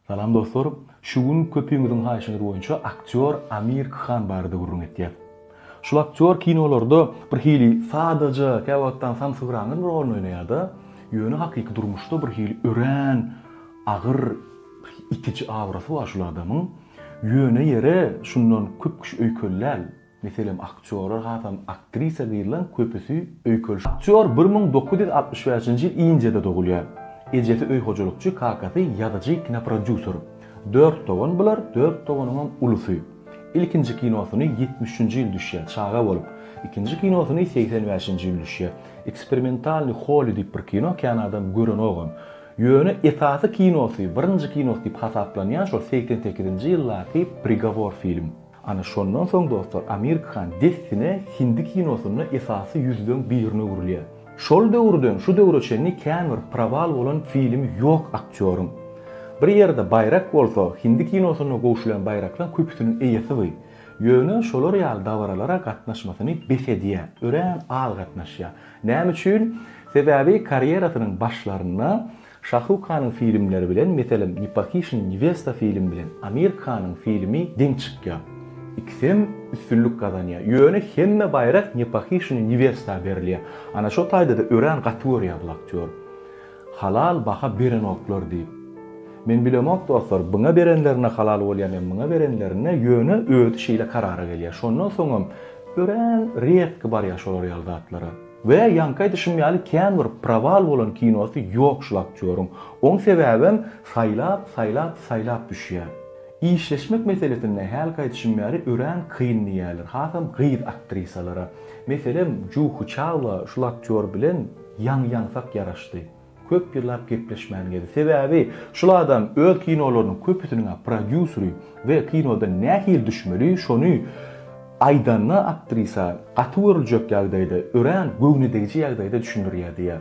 Salam dostlar! Şu gün köpüňiziň haýyşyňyz boýunça aktýor Amir Khan barada gürrüň etýäs. Şul aktýor kinolarda bir hili sadaja, käwagtdan samsygyraňyz bir orun oýnaýarda, ýöne hakyky durmuşda bir hili örän agyr itiji aurasy bar şul adamyň. Ýöne ýere şundan köp kişi öýkeli däl. Meselem, aktýorlar hasam aktrisa gyzlaň köpüsi öýkelişip. Aktýor bir müň dokuz ýüz altmyş bäşinji ýyl Indiýada dogulýar. Ejesi öý hojalykçy, kakasy ýazyjy, kinoprodýuser. Dört dogan bular, dört doganyňam ulusy. Ilkinji kinosyny ýetmiş üçünji ýyl düşýär, çaga bolup. Ikinji kinosyny segsen bäşinji ýyl düşýär. Eksperimentalnyý Holly diýip bir kino kän adam görenogam. Ýöne esasy kinosy, birinji kinosy diýip hasaplanýan şol segsen sekizinji ýyldaky Prigovor film. Ana şondan soň dostlar Amir Khan dessine hindi kinosynda esasy ýüzleň birine öwrülýär. Şol döwürden şu döwre çenli kän bir prowal bolan filmi ýok aktýoryň. Bir ýerde baýrak bolsa, hindi kinosynda gowşulan baýraklaň köpüsiniň eýesi by. Ýöne şolar ýaly dabaralara gatnaşmasyny bes edýär, örän az gatnaşýar. Näme üçin? Sebäbi karýerasynyň başlarynda Şahruh Kanyň filmleri bilen, meselem, Nepakişin Newesta filmi bilen Amir Kanyň filmi deň çykýar. Ikisem üstünlik gazanýar. Ýöne hemme baýrak Nepakişin Newesta berilýär. Ana şo taýda-da örän gaty görýär bul aktýory. Halal baha berenoklar diýip. Men bilemok dostlar, buna berenlerine halal bolýarmy, muňa berenlerine, ýöne özi şeýle karara gelýär. Şondan soňam örän riedki barýar şolar ýaly zatlara. We ýaňky aýdyşym ýaly kän bir prawal bolan kinosy ýok şul aktýoryň. Oň sebäbem saýlap saýlap saýlap düşýä. Işleşmek meselesinde hälki aýdyşym ýaly örän kyn diýýäler hasam gyz aktrisalara. Meselem Juhu Çawa şul aktýor bilen ýaňy ýaňsak ýaraşdy. Köp ýyllap gepleşmän gezdi. Sebäbi şul adam öz kinolarynyň köpüsiniň-ä prodýuseri we kinodan nähili düşmeli, şony aýdanda aktrisa gaty görüljek ýagdaýda, örän göwnüdegiji ýagdaýda düşündirýär diýýär.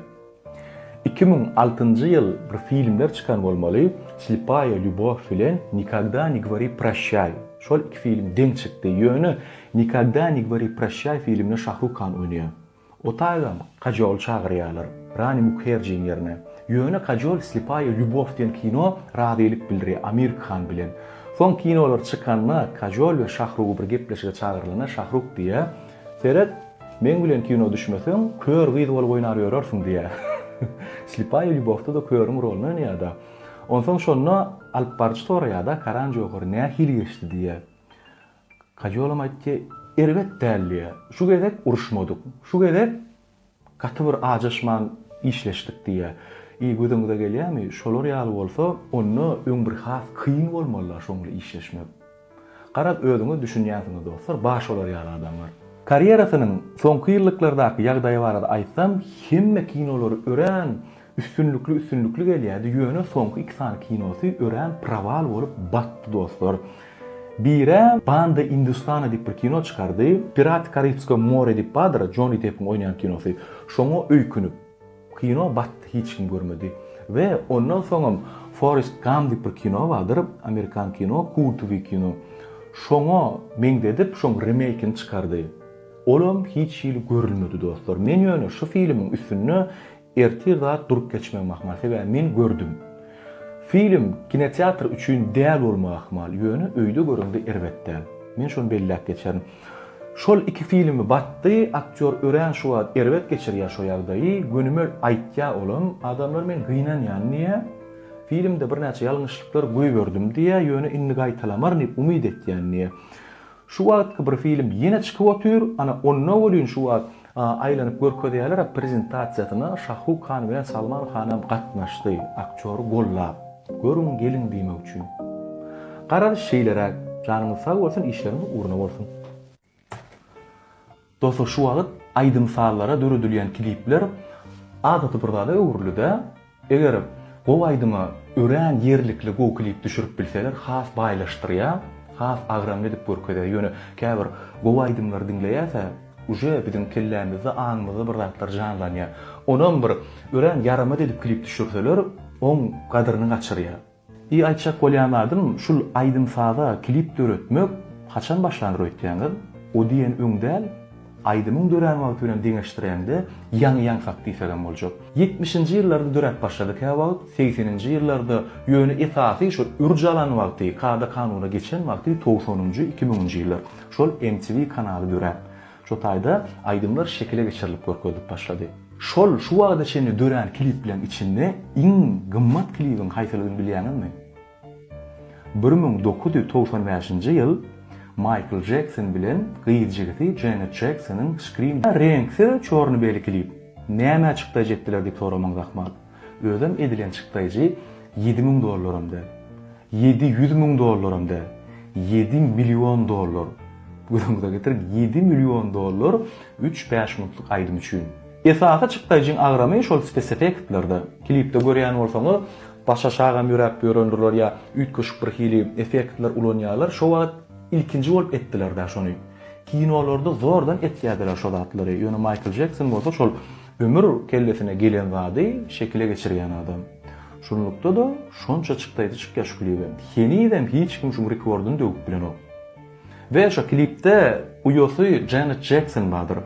Iki müň altynjy ýyl bir filmler çykan bolmaly, Slipaýa lýubow bilen Nikogda ne gwori proşýaý. Şol iki film deň çykdy. Ýöne Nikogda ne gwori proşýaý filminde Şahruk Kan oýnaýar. Otaýgam Kajoly çagyrýarlar Rani Mukherjiň ýerine. Ýöne Kajol Slepaýa lýubow diýen kino razylyk bildirýär Amir Khan bilen. Soň kinolar çykanda Kajol we Şahrugy bir gepleşige çagyrylanda Şahruk diýýär, Seret, meň bilen kino düşmeseň, kör gyz bolup oýnar ýörersiň diýýär. Slepaýa lýubowda-da körüň roluny oýnaýar-da. Onsoň şonda alypbaryjy soraýar-da, Karan Johary nähili geçdi diýýär. Kajolam aýtdy, Erbet däl diýýär. Şu gezek uruşmadyk. Şu gezek gaty bir ajaşman işleşdik diýýär. Eý, gözüňize gelýärmi? Şolar ýaly bolsa, onda öň bir has kyn bolmaly-la şoňly işleşmek. Garaz, özüňiz düşünýänsiňiz dostlar, bar şolar ýaly adamlar. Karýerasynyň soňky ýyllyklardaky ýagdaýy barada aýtsam, hemme kinolary örän Üstünlikli üstünlikli gelýädi ýöne soňky iki sany kinosy örän prawal bolup batdy dostlar. Birä Banda Industana diýip bir kino çykardy. Piraty Karibskog more diýip bardyr Joni Deppiň oýnaýan kinosy. Şoňa öýkünip kino batdy hiç kim görmedi. We ondan soňam Forest Gam diýip bir kino bardyr Amerikan kino kultowy kino. Şoňa meňzedip şoň remeýkini çykardy. Olam hiç hili görülmedi dostlar. Men ýöne şu filmiň üstünde Ertir zat durup geçmegim ahmal, sebäbi men gördüm. Film kinoteatr üçin däl bolmagy ahmal, ýöne öýde göreňde erbet däl. Men şony belläp geçerin. Şol iki filmi batdy, aktýor örän şu wagt erbet geçirýär şo ýagdaýy, gönümel aýtýar olam, adamlar men gynanýan diýýär, filmde birnäçe ýalňyşlyklar goýberdim diýýär, ýöne indi gaýtalamaryn diýip umyt etýän diýýär. Şu wagtky bir film ýene çykyp otyr, ana onda welin şu wagt aýlanyp görkezýäler prezentasiýasyna Şahruh Han bilen Salman Hanam gatnaşdy, aktýory gollap, görüň geliň diýmek üçin. Garaz şeýleräk, janyňyz sag bolsun işleriňiz ugruna bolsun. Dostlar şu wagyt aýdym sazlara döredilýän klipler adaty bir zada öwrülidä. Eger gowy aýdyma örän ýerlikli gowy klip düşürip bilseler has baýlaşdyrýa, has agramly edip görkezýä. Ýöne käbir gowy aýdymlary diňleýäsä uje biziň kellämizde aňymyzda bir zatlar janlanýa. Onam bir örän ýaramaz edip klip düşürseler oň gadyryny gaçyrýa. I aýtjak bolýan zadym şul aýdym saza klip döretmek haçan başlandyr öýtýäňiz o diýen öň däl aýdymyň dörän wagty bilen deňeşdiräňde ýaňy ýaňsak diýsegem boljak ýetmişinji ýyllarda döräp başlady käwagt segseninji ýyllarda ýöne esasy şo ürj alan wagty kada kanuna geçen wagty togsanynjy iki müňünji ýyllar şol mtv kanaly döräp Şu taýda aýdymlar şekile geçirilip görkezilip başlady. Şol şu wagta çenli dörän klipleriň içinde iň gymmat klibiň haýsydygyny bilýäňizmi? Bir müň dokuz ýüz togsan bäşinji ýyl Maýkl Jekson bilen gyz jigisi Jenet Jeksonyň Scream Reňksiz çorny-beli klip. Nämä çykdaýjy etdiler diýip soramyňyz ahmal. Özem edilen çykdaýjy ýedi müň dollaram däl. Ýedi ýüz müň dollaram däl. Ýedi million dollar. Gözüňize getiriň, ýedi million dollar üç bäşmuntlyk aýdym üçin. Esasy çykdaýjyň agramy şol spesefektlerde. Klipde görýän bolsaňyz, baş aşagam ýöräp ýören durlar ýa üýtgeşik bir hili effektler ulanýarlar. Şo wagt ilkinji bolup etdiler-dä şony. Kinolarda zordan etýärdiler şo zatlary. Ýöne Maýkl Jekson bolsa şol Ömür kellesine gelen zady şekile geçirýän adam. Şunlukda-da şonça çykdaýda çykýar şu klibem. Henizem hiç kim şuň rekordyny döwüp bilenok. We şo klipde uýasy Janet Jekson bardyr.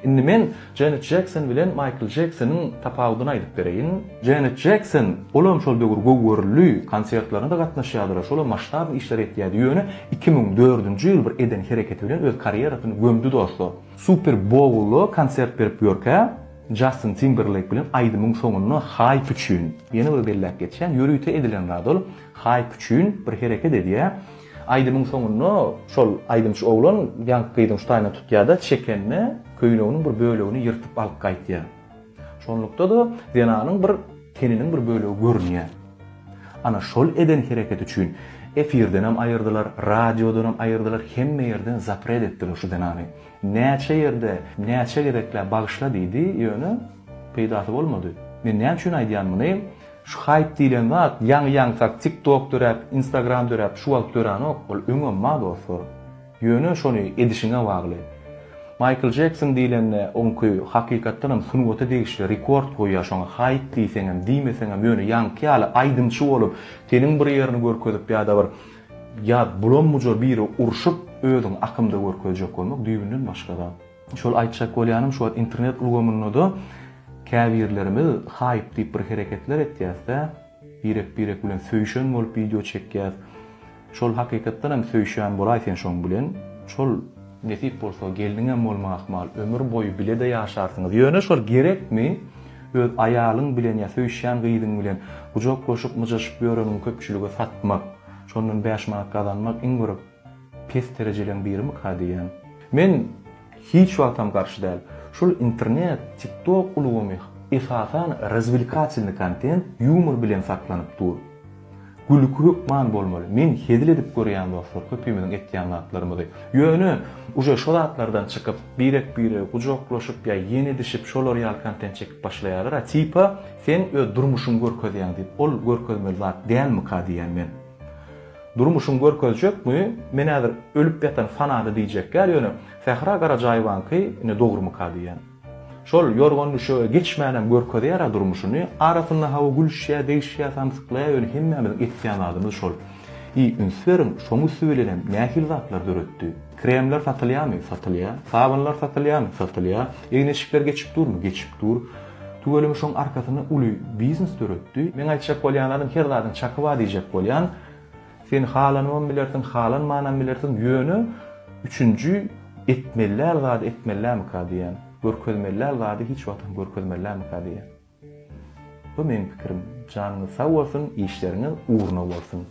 Indi men Janet Jekson bilen Maýkl Jeksonyň tapawudyny aýdyp bereýin. Janet Jekson, olam şol döwür gowy görüldi, konsertlerine-de gatnaşýardylar, şolam masştabny işler etýärdi, ýöne iki müň dördünji ýyl bir eden hereketi bilen öz karýerasyny gömdi dostlar. Super Bowlda konsert berip ýörkä, Jastin Timberleýk bilen aýdymyň soňunda haýp üçin, ýene bir belläp geçýän, ýörite edilen zat ol, haýp üçin bir hereket edýär. Aýdymyň soňunda şol aýdymçy oglan ýaňky gyzyň ştaýyna tutýar-da, çekende, köýneginiň bir bölegini ýyrtyp alyp gaýtýar. Şonlukda-da zenanyň bir teniniň bir bölegi görünýär. Ana şol eden hereketi üçin efirdenem aýyrdylar, radiodanam aýyrdylar, hemme ýerden zapret etdiler şu zenany. Näçe ýerde, näçe gezekläp bagyşla diýdi, ýöne peýdasy bolmady. Men näme üçin aýdýan muny? Şu haýp diýlen zat ýaňy-ýaňy sak tik tok döräp, instagram döräp şu wagt döranok, ol öňem bar dostlar. Ýöne şony edişiňe bagly. Maýkl Jekson diýlende oňky hakykatdanam sungata degişli rekord goýýar şoňa haýt diýseňem diýmeseňem ýöne ýaňky ýaly aýdymçy bolup teniň bir ýerini görkezip ýada bir ýa bulambuja biri urşup özüňi akymda görkezjek bolmak düýbünden başga zat. Şol aýtjak bolýanym şu wagt internet ulgamyndada käbirlerimiz haýp diýip bir hereketler etýäsdä birek birek bilen söýşen bolup wideo çekýäs Şol hakykatdan hem söýşýän bolaý sen şoň bilen, şol nesip bolsa gelniňem bolma ahmal ömür boýy bilede ýaşarsyňyz ýöne şol gerekmi öz aýalyň bilen ýa söýşýän gyzyň bilen gujaklaşyp myjaşyp ýöreniňi köpçülige satmak şondan bäş manat gazanmak iň bir pes terejeleň birimikä diýýän. Men hiç wagtam garşy däl. Şul internet, tiktok ulugymy esasan razwilkatelny kontent, ýumor bilen saklanyp dur. Gülki hökman bolmaly. Men hezil edip görýän dostlar köpimiziň etýän zatlarymyzy. Ýöne uje şo zatlardan çykyp birek biregi gujaklaşyp ýa ýene dişip şolar ýaly kontent çekip başlaýarlar a tipa sen öz durmuşyňy görkezýäň diýip ol görkezmeli zat dälmika diýýän men. Durmuşyňy görkezjekmi men häzir ölüp ýatan fanady diýjek ýaly ýöne Sähra Garajaýewanyňky ine dogrumyka diýýän. Şol ýorgan-düşege geçmänem görkezýär-ä durmuşyny, arasynda hawa gülüşýä, degişýä, samsyklaýa ýöne hemmämiziň etýän zadymyz şol. Eý, üns beriň, şoň üsti bilenem nähili zatlar döretdi. Kremler satylýamy? Satylýa. Sabynlar satylýamy? Satylýa. Egin-eşikler geçip durmy? Geçip dur. Tüweleme şoň arkasynda uly biznes döretdi. Meň aýtjak bolýan zadym her zadyň çaky bar diýjek bolýan. Sen halanybam bilersiň, halanmanam bilersiň, ýöne üçünji etmeliäl zady etmelilämika diýýän, görkezmeliäl zady hiç wagtam görkezmelilämika diýýän. Bu meň pikirim. Janyňyz sag bolsun, işleriňiz ugruna bolsun!